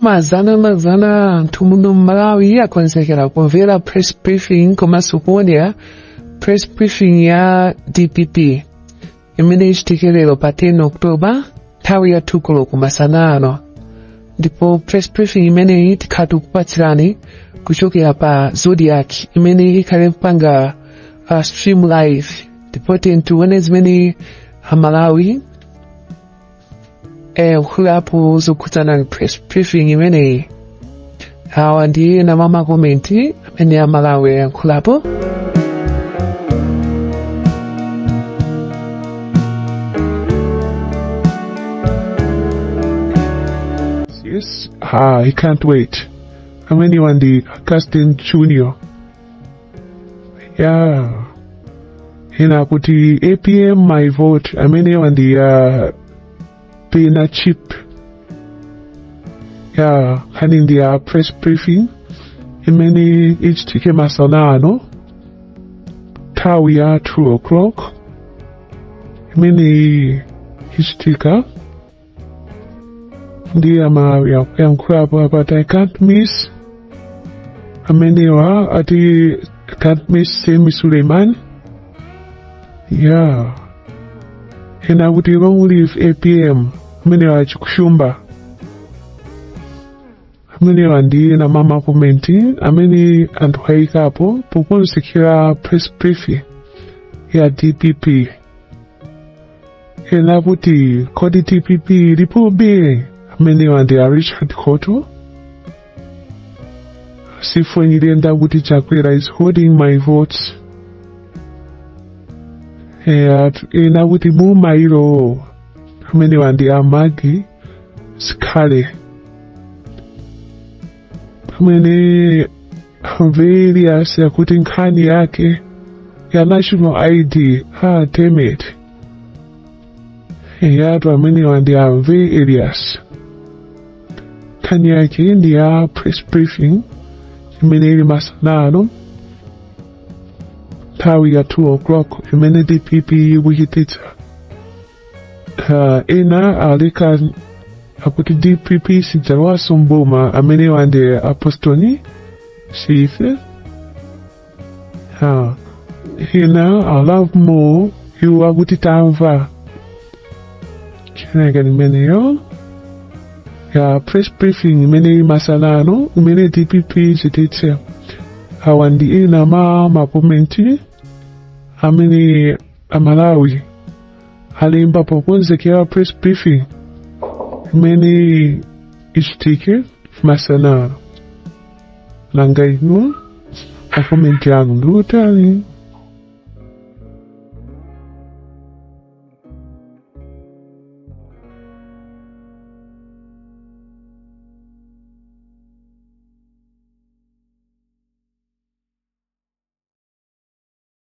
mazana mazana anthu muno mmalawi akonzekera kumvera press briefing komanso kuonera press briefing ya dpp imene ichitike lero pa 10 oktoba nthawi ya 2 koloko masana ano ndipo press briefing imeneyi tikhala tikukupatsirani kuchokera pa zodiac imene ikhale mpanga uh, stream live ndipo tiyeni tione zimene amalawi ayankhulapo zokhudzana ndi press briefing imeneyi awa ndi ena mwa makomenti amene amalawi ayankhulapo Yes, ah, I can't wait. amenewa ndi a Augustine Junior ya ena akuti apm my vote amenewa ndi a pena chip ya nkhani ndi ya press briefing imene ichitike masana ano nthawi ya 2 o'clock imeneyi ichitika ndiye amalawi akuyankhulapo apa ati i can't miss amenewa ati can't miss sami suleiman ya ena kuti long live apm amenewa achikushumba amenewa ndi ena mwa makomenti amene anthu ayikapo pokonzekera press briefing ya dpp ena kuti kodi dpp ilipobe amenewa ndi a richard khoto sifo nyirenda kuti chakwera is holding my votes eya ena kuti boma ilo amenewa ndi a magi sikhale Pamene a Mvelias akuti nkhani yake ya national ID ha temet eyatu amenewa ndi a Mvelias nkhani yake ndi ya press briefing imene ili masana ano nthawi ya 2 o'clock imene dpp ikuchititsa ena aleka akuti dpp sidzalowaso mboma amenewa ndi apostoli siife ena a love more iwo akuti tamva ineneke imeneyo ya press briefing imene masanano imene dpp ichititse awa ndi ena mwa makomenti amene amalawi alemba pokonzekera press briefing imene ichitike masanano nanga inu makomenti anu ndi otani